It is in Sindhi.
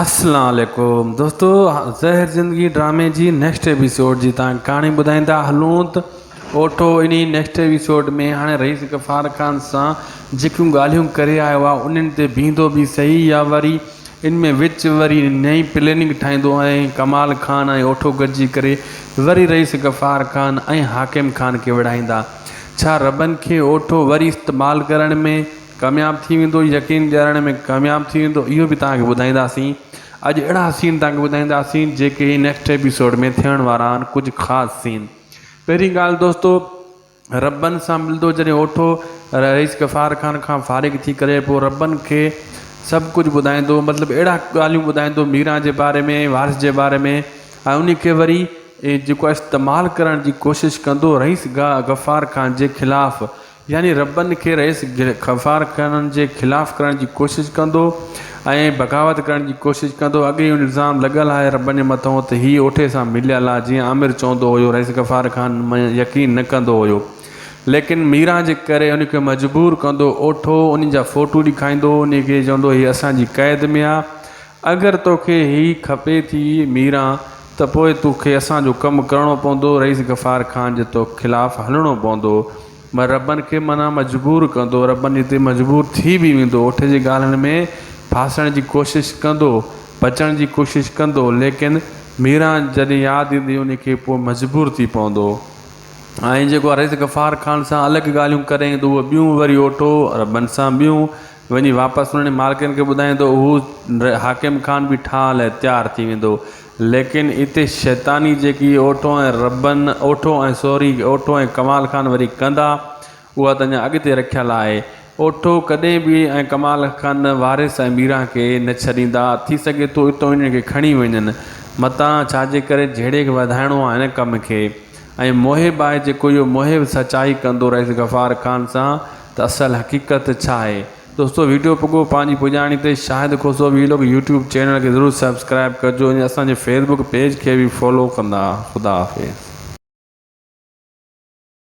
اسلام عليڪم دوستو زهر زندگي ڊرامي جي نيڪسٽ ايپيسوڊ جي تان ڪهاڻي ٻڌائيندا هلون ته اوٺو انهي نيڪسٽ ايپيسوڊ ۾ هاڻي رئيس غفار خان سان جيڪيون ڳالهيون ڪري آيو آهي انهن تي بيهندو به سهي يا وري ان ۾ وچ وري نئين پليننگ ٺاهيندو ۽ ڪمال خان ۽ اوٺو گڏجي ڪري وري رئيس غفار خان ۽ حاڪم خان کي وڙهائيندا ڇا ربن کي اوٺو وري استعمال ڪرڻ ۾ ڪامياب ٿي ويندو يقين ڏيارڻ ۾ ڪامياب ٿي ويندو اهو به تهانکي ٻڌائينداسين اڄ اهڙا سين تهانکي ٻڌائينداسين جيڪي نيڪسٽ ايپيسوڊ ۾ ٿيڻ وارا آهن ڪجهه خاص سين پهرين ڳالهه دوستو ربن سان ملندو جڏهن اوٺو رئيس غفار خان کان فارغ ٿي ڪري پوء ربن کي سڀ ڪجهه ٻڌائيندو مطلب اهڙا ڳالهيون ٻڌائيندو ميرا جي باري ۾ وارث جي باري ۾ ۽ ان کي وري جيڪو استعمال ڪرڻ جي ڪوشش ڪندو رئيس غفار خان جي خلاف يعني ربن کي رئيس خفار خانن جي خلاف ڪرڻ جي ڪوشش ڪندو ۽ بغاوت ڪرڻ جي ڪوشش ڪندو اڳي ئي الزام لڳل آهي ربن جي مٿئون ته هي اوٺي سان مليل آهي جيئن عامر چوندو هيو رئيس غفار خان مان يقين نه ڪندو هيو ليڪن ميران جي ڪري ان کي مجبور ڪندو اوٺو انهن جا فوٽو ڏيکائيندو انهن کي چوندو هي اسان جي قيد ۾ آهي اگر توکي هي کپي ٿي ميران ته پوء تو کي اسان جو ڪم ڪرڻو پوندو رئيس غفار خان جي تو خلاف هلڻو پوندو مگر ربن کي منا مجبور ڪندو ربن جي تي مجبور ٿي به ويندو اٺ جي ڳالهن ۾ ڦاسڻ جي ڪوشش ڪندو بچڻ جي ڪوشش ڪندو ليڪن ميران جڏهن ياد ايندي انهي کي پوء مجبور ٿي پوندو ۽ جيڪو رئيس غفار خان سان الڳ ڳالهيون ڪري ايندو اهي ٻيون وري اوٺو ربن سان ٻيون وڃي واپس انهن مالڪن کي ٻڌائين ته اهو حاڪم خان به ٺاهه لاء تيار ٿي ويندو. ليڪن اتي شيطاني جيڪي اوٺو ۽ ربن اوٺو ۽ سوري اوٺو ۽ ڪمال خان وري ڪندا اها ته اڃا اڳتي رکيل آهي. اوٺو ڪڏهن به ۽ ڪمال خان وارث ۽ ميران کي نه ڇڏيندا. ٿي سگهي ٿو اتو انهن کي کڻي وڃن. متان ڇاجي ڪري جهيڙي کي وڌائڻو آهي هن ڪم کي. ۽ محب آهي جيڪو اهو محب سچائي ڪندو رئيس غفار خان سان. ته اصل حقيقت ڇا آهي. دوستو ويڊيو پڳو پنهنجي پڄاڻي تي Shahid Khoso vlog YouTube channel کي ضرور سبسڪرائب ڪجو ۽ اسان جي فيسبوڪ پيج کي به فالو ڪندا خدا حافظ.